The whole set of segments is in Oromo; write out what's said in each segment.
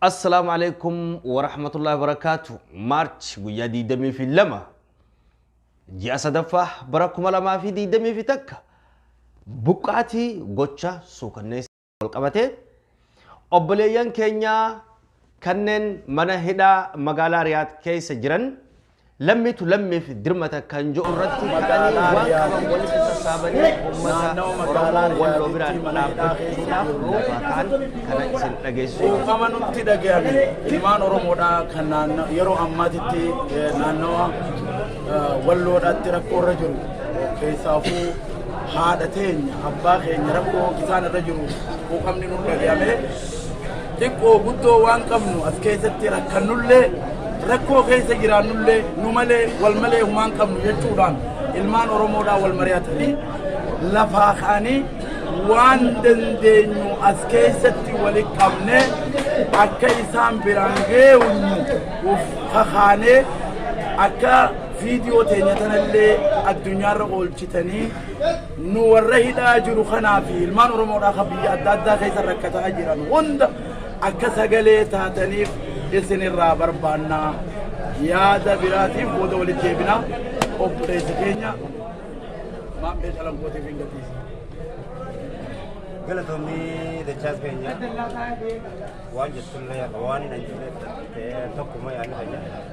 Assalaamu alaikum warahmatullahi wabarakaatu. March guyyaa 22 ji'a sadaffaa bara 2021 buqqaatii gocha suukanneessaa walqabatee obboleeyyan keenyaa kanneen mana hidhaa magaalaa Riyaad keessa jiran Lammitu lammiif dirmata kan je'u irratti ka'anii waan qaban walitti sassaabanii ummata Oromoo Walloo biraan dhaabbachuudhaaf loofaa ta'an kana isin dhageessisuu barbaada. Kuufama nutti dhagayame ilmaan Oromoodhaa kan naanna- yeroo ammaatitti eh, naannawa eh, walloodhaatti rakkoo irra jiru keessaafuu haadha teenya abbaa keenya rakkoo isaan irra jiru kuufamni nutti dhagayame Xiqqoo guddoo waan qabnu as keessatti rakkannullee rakkoo keessa jiraannullee nu malee wal malee humaan qabnu jechuudhaan ilmaan Oromoodhaa wal mari'atanii lafaa ka'anii waan dandeenyu as keessatti wali qabnee akka isaan biraan geewnu of kakaanee akka viidiyoo teenya tanallee addunyaarra oolchitanii nu warra hidhaa jiru kanaa fi ilmaan Oromoodhaa kan biyya adda addaa keessa rakkataa jiran hunda akka sagalee taataniif isin irraa barbaanna. Yaada biraatiif booda walitti deebina. Obboleessi keenya maammee calankootiif hin gatiisa. galatoomii dachaas keenya waan jettu illee waan hin anjifne tokkuma yaadni keenya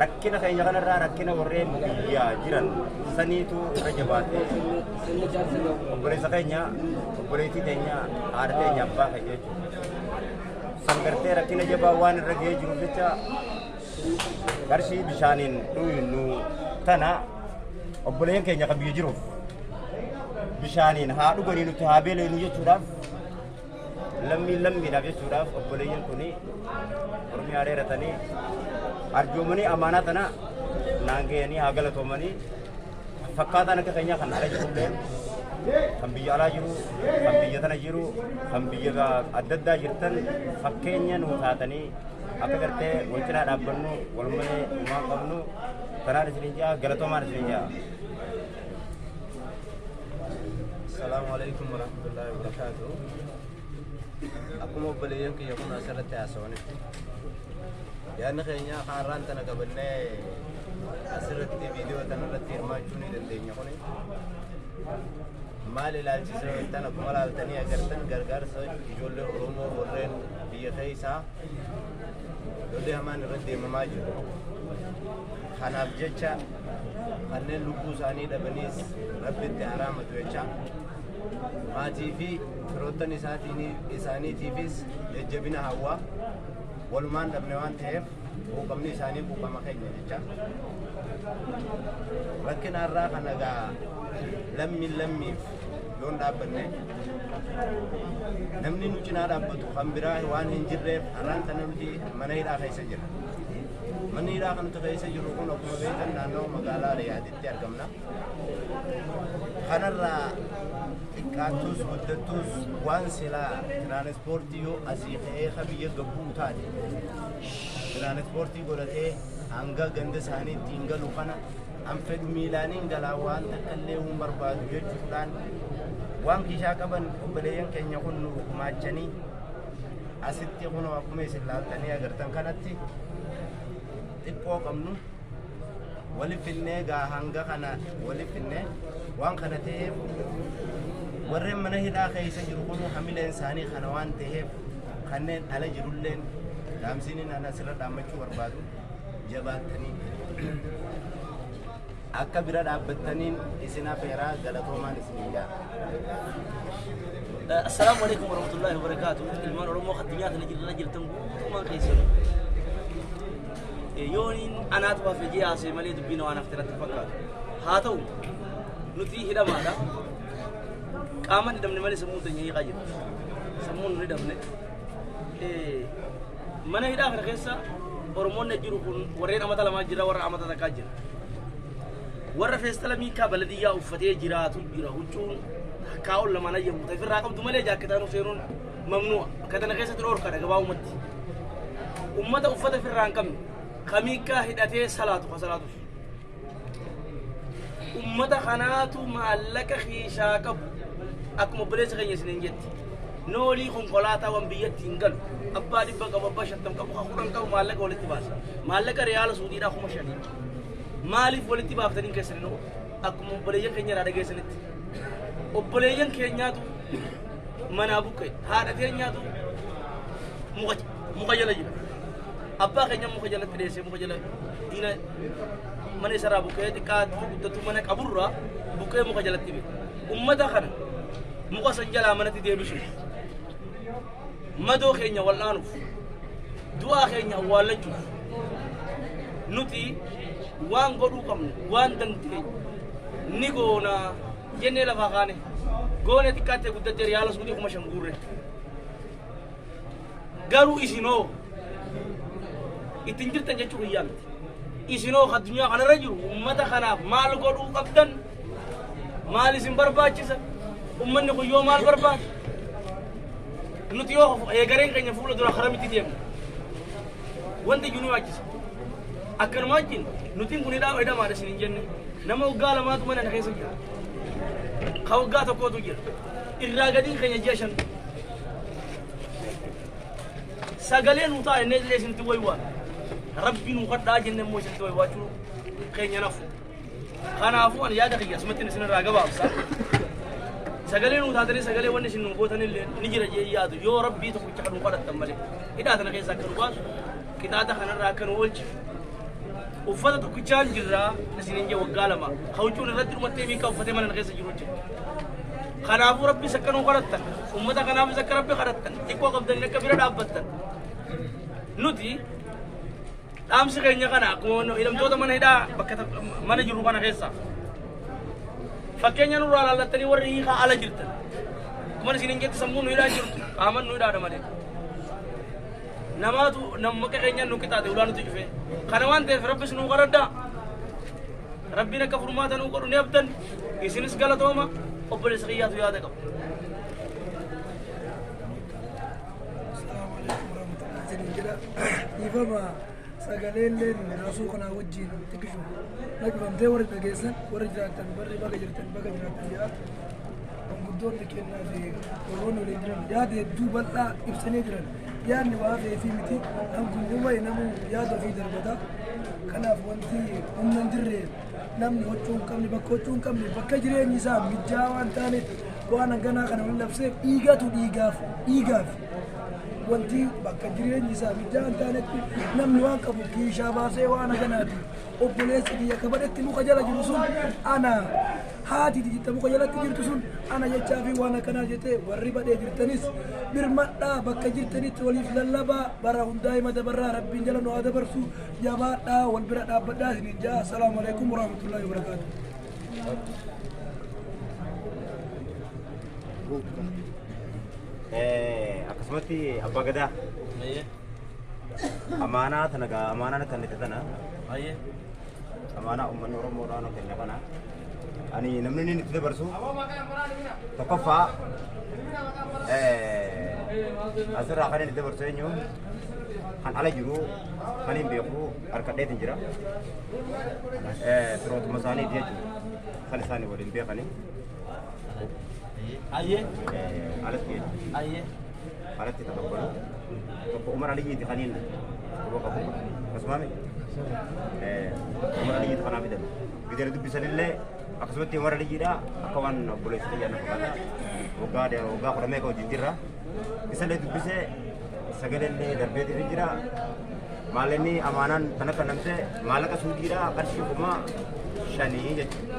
Rakkina keenya kanarraa rakkina warreen biyyaa jiran saniitu irra jabaate. Obboleessa keenya, obboleettii teenya, haadha teenya, abbaa keenya jechuudha. San gartee rakkina jabaa waan irra ga'ee jiruuf jecha qarshii bishaaniin dhuynu tana obboleen keenya kan biyya jiruuf bishaaniin haa dhuganii nuti haa beelenu jechuudhaaf Lammiin lammiidhaaf jechuudhaaf obboleeyyan kun mormii haareeratanii arjoomanii amaanaa tana naan ga'anii haa galatoomanii fakkaataan akka keenyaa kan ala jirullee kan biyya alaa jiru kan biyya tana jiru kan biyya adda addaa jirtan fakkeenya nuu taatanii akka gartee wal cinaa dhaabbannu wal malee uumaa qabnu kanaan isiniin ja'a galatoomaan isiniin ja'a. Salaamu alaikum warahmatullahi wabarakatuh. Akkuma obboleeyyan kiyya kun asirratti haasawanitti yaadni keenya haaraan tana qabannee asirratti viidiyoo tana irratti hirmaachuu ni dandeenya kuni. Maal ilaalchisa tan akkuma ilaaltanii agartan gargaarsa ijoollee Oromoo warreen biyya keessaa lolli hamaan irratti deemamaa jiru. Kanaaf jecha kanneen lubbuu isaanii dhabaniis rabbitti haa raamatu jecha maatii fi firoottan isaaniitiifis jajjabina hawwaa walumaan dhabne waan ta'eef quuqamni isaanii quuqama keenya jecha rakkina irraa kan egaa lammiin lammiif yoon dhaabbanne namni nu cinaa dhaabbatu kan biraa waan hin jirreef har'aan tana nuti mana hidhaa keessa jira. Manni hidhaa kan nuti keessa jirru kun akkuma beektan naannoo magaalaa Riyaaditti argamna. Kanarraa xiqqaattus guddattus waan silaa tiraanispoortii yoo asii ka'ee ka biyya gabbuu taate tiraanispoortii godhatee hanga ganda isaaniitti hin galu kana an fedhu miilaaniin galaa waan takka illee hin barbaadu jechuudhaan waan kishaa qaban obboleeyyan keenya kun nu gumaachanii Asitti kunoo akkuma isin laaltanii agartan kanatti xiqqoo qabnu wali finnee gaa hanga kana wali finnee waan kana ta'eef warreen mana hidhaa keessa jiru kun hamileen isaanii kana waan ta'eef kanneen ala jirulleen dhaamsiin inni asirra dhaammachuu barbaadu jabaattanii Akka bira dhaabbattaniin isin afeera galatoomaan isiniin ja'a. Assalaamu alaikum warahmatullahi wabarakaatu. Ilmaan Oromoo addunyaa kana jirra jirtan guutummaan keessan. Yooniin anaatu hafe jee haasee malee dubbiin waan hafte irratti fakkaatu. Haa ta'u nuti hidhamaadha. Qaaman hidhamne malee sammuun teenya hiiqaa jirti. Sammuun hin hidhamne. mana hidhaa kana keessa oromoonni jiru kun warreen amata lamaa jira warra amata takkaa jira warra feestala miikaa baladiyyaa uffatee jiraatu jira huccuun takkaa ol lamaan ayyamu ta'e firraa qabdu malee jaakketaan seenuun mamnu'a akka tana keessatti dhoorkadha gabaabumatti ummata uffata firraa hin qabne kamiikaa hidhatee salaatu ka salaatus ummata kanaatu maallaqa keeshaa qabu akkuma obboleessa keenya isiniin jetti noolii konkolaataawwan biyyatti hin galu abbaa dhibba qabu abbaa shantam qabu ka kudhan qabu maallaqa walitti baasa maallaqa riyaala suudiidhaa kuma shanii maaliif walitti baaftanii keessan nu akkuma obboleeyyan keenya irraa dhageessanitti obboleeyyan keenyaatu manaa buqqe haadha teenyaatu muka muka jala jira. Abbaa keenya muka jalatti dheessee muka jala diina mana isaraa buqqee xiqqaa guddatu mana qaburraa buqqee muka jalatti bee. Ummata kana muka san jalaa manatti deebisuuf madoo keenya wal'aanuuf du'aa keenya awwaallachuuf nuti waan godhuu qabnu waan dandeenye ni goona jennee lafaa kaane goone xiqqaattee guddattee riyaala suudii kuma shan guurre. Garuu isinoo ittiin jirtan jechuu biyyaa miti. Isinoo addunyaa kanarra jiru uummata kanaaf maal godhuu qabdan maal isin barbaachisa uummanni kun yoo maal barbaada nuti yoo eegareen keenya fuula dura karaa miti deemna wanti iyyuu nu waachisa akkanuma wajjin nutiin kun hidhaa hidhamaadha isin hin jenne nama waggaa lamaatu mana na keessa jira ka waggaa tokkootu jira irraa gadiin keenya ji'a shan sagalee nuu ta'a jennee illee isinitti waywaa rabbi nuu kadhaa jenne immoo isinitti waywaachuu keenya nafu kanaafuu ani yaada kiyya asumattiin isinirraa gabaabsa sagalee nuu taatanii sagalee wanni isin nuu gootan illee ni jira jee yaadu yoo rabbii tokkicha kan nuu kadhattan malee hidhaa tana keessaa akka nu baasu qixaaxa kanarraa akka nu oolchu uffata tokkichaan jirraa isinin jee waggaa lama hawcuun irratti dhumattee miikaa uffatee mana na keessa jiru jira Kanaafuu Rabbiis akka nuu kadhattan, uummata kanaafis akka Rabbi kadhattan, xiqqoo qabdanii akka bira dhaabbattan. Nuti dhaamsi keenya kana akkuma hidhamtoota mana hidhaa bakka tokko- mana jiru kana keessa. Fakkeenya nurraa laallattanii warri hiikaa ala jirtan. Akkuma isin hin jettu sammuu nu hidhaa jirtu, qaaman nu hidhaadha malee. Namaatu namni akka keenyaan nu qixaate ulaa nuti cufee. Kana waan ta'eef Rabbis nuu kadhadhaa. Rabbiin akka furmaata nuu godhu ni abdan isinis galatooma obboleessa kiyyaatu yaada qabu. Dhiifama sagaleelleen rasuu kanaa wajjin xiqqishu dhaggeeffamtee warri dhageessan warri jiraattan barri baga jirtan baga jiraattan jedha. Manguddoonni kennaa fi warroonni waliin jiran yaada hedduu bal'aa ibsanii jiran. Yaadni waa feetii miti. Namni uumayi namuu yaada ofii darbata. Kanaaf wanti humna hin jirre namni huccuu hin qabne bakka huccuu hin qabne bakka jireenyi isaa mijjaa waan taaneef waan hanganaa kana wal labseef dhiigatu dhiigaaf dhiigaaf wanti bakka jireenyi isaa mijjaa hin taanetti namni waan qabu kiishaa baasee waan haganaati. obboleessi kiyya kabadatti muka jala jiru sun ana haati diditta muka jalatti jirtu sun ana jechaa fi waan akkanaa jettee warri badhee jirtanis birmadhaa bakka jirtanitti waliif lallabaa bara hundaa hima dabarraa rabbiin jala nu haa dabarsu jabaadhaa wal bira dhaabbadhaa isiniin ja'a assalaamu alaikum warahmatullahi wabarakaatu. akkasumatti abbaa gadaa Amaanaa tana gaa amaanaa kennite tana Baay'ee. amaanaa uummanni Oromoo irraa nu kenne kana ani namni inni itti dabarsu tokkoffaa eh, asirraa kan inni itti dabarsu eenyu kan ala jiru kan hin beeku harkadheetiin jira Eh, firootuma isaaniiti jechuudha kan isaanii waliin beekanii. Ayyee. Alatti keenya. Ayyee. Alatti tapha godhu. Tokko Umar Aliyyiiti kan inni quba qabu. Akkasumaan Umar Aliyyiiti kanaa fidan. Bidira dubbisanillee akkasumatti Umar Aliyyiidha akka waan obboleessa xiyyaa na fakkaata. Waggaa waggaa kudha meeqa wajjin jirra. Isallee dubbisee sagalee darbeetii jira. Maalinni amaanaan kan akka namsee maallaqa suudiidha qarshii kuma shanii jechuudha.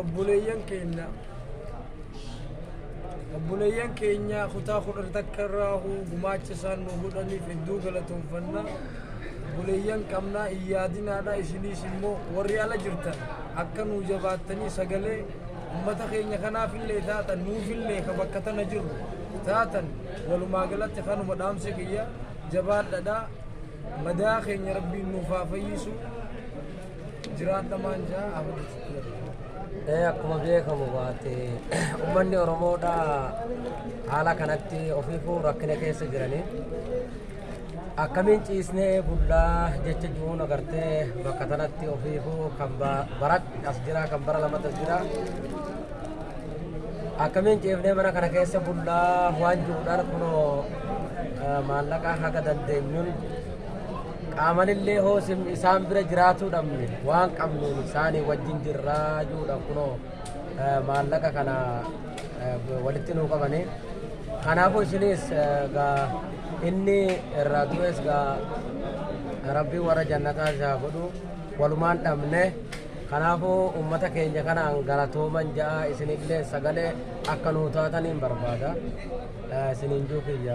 obboleeyyan keenya obboleeyyan keenya kutaa kudhan takka irraa huu gumaacha isaan nu godhaniif hedduu galatoomfanna obboleeyyan qabnaa hin yaadinaadha isiniis immoo warri ala jirtan akka nuu jabaattanii sagalee ummata keenya kanaaf illee taatan nuuf illee ka bakka tana jirru taatan walumaa galatti kanuma dhaamsi kiyya jabaadhadha madaa keenya rabbiin nuuf haa fayyisu Jiraata maanja Ee akkuma beekamu waati uummanni Oromoodha haala kanatti ofiifuu rakkina keessa jiranii akkamiin ciisnee bullaa jecha jiruun agartee bakka tanatti ofiifuu kan bara as jira kan bara lamatti as jira akkamiin ciifnee mana kana keessa bullaa waan jiruudhaan kunoo maallaqa haga dandeenyuun Qaamanillee hoo isin isaan bira jiraatuu dhabne waan qabnuun isaanii wajjin jirraa juudha kunoo eh, maallaqa kana eh, walitti nuu qabane. Kanaafuu isinis eh, gaa inni irraa du'es gaa rabbi warra jannataa isaa godhu walumaan dhabne kanaafuu ummata keenya kanaan galatooman ja'a isinillee sagalee akka nuu taataniin barbaada Eh, isiniin juu kiyya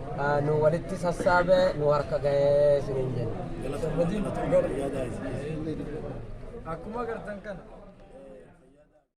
nu walitti sassaabe nu harka ga'ee isiniin jenna. Akkuma agartan kana.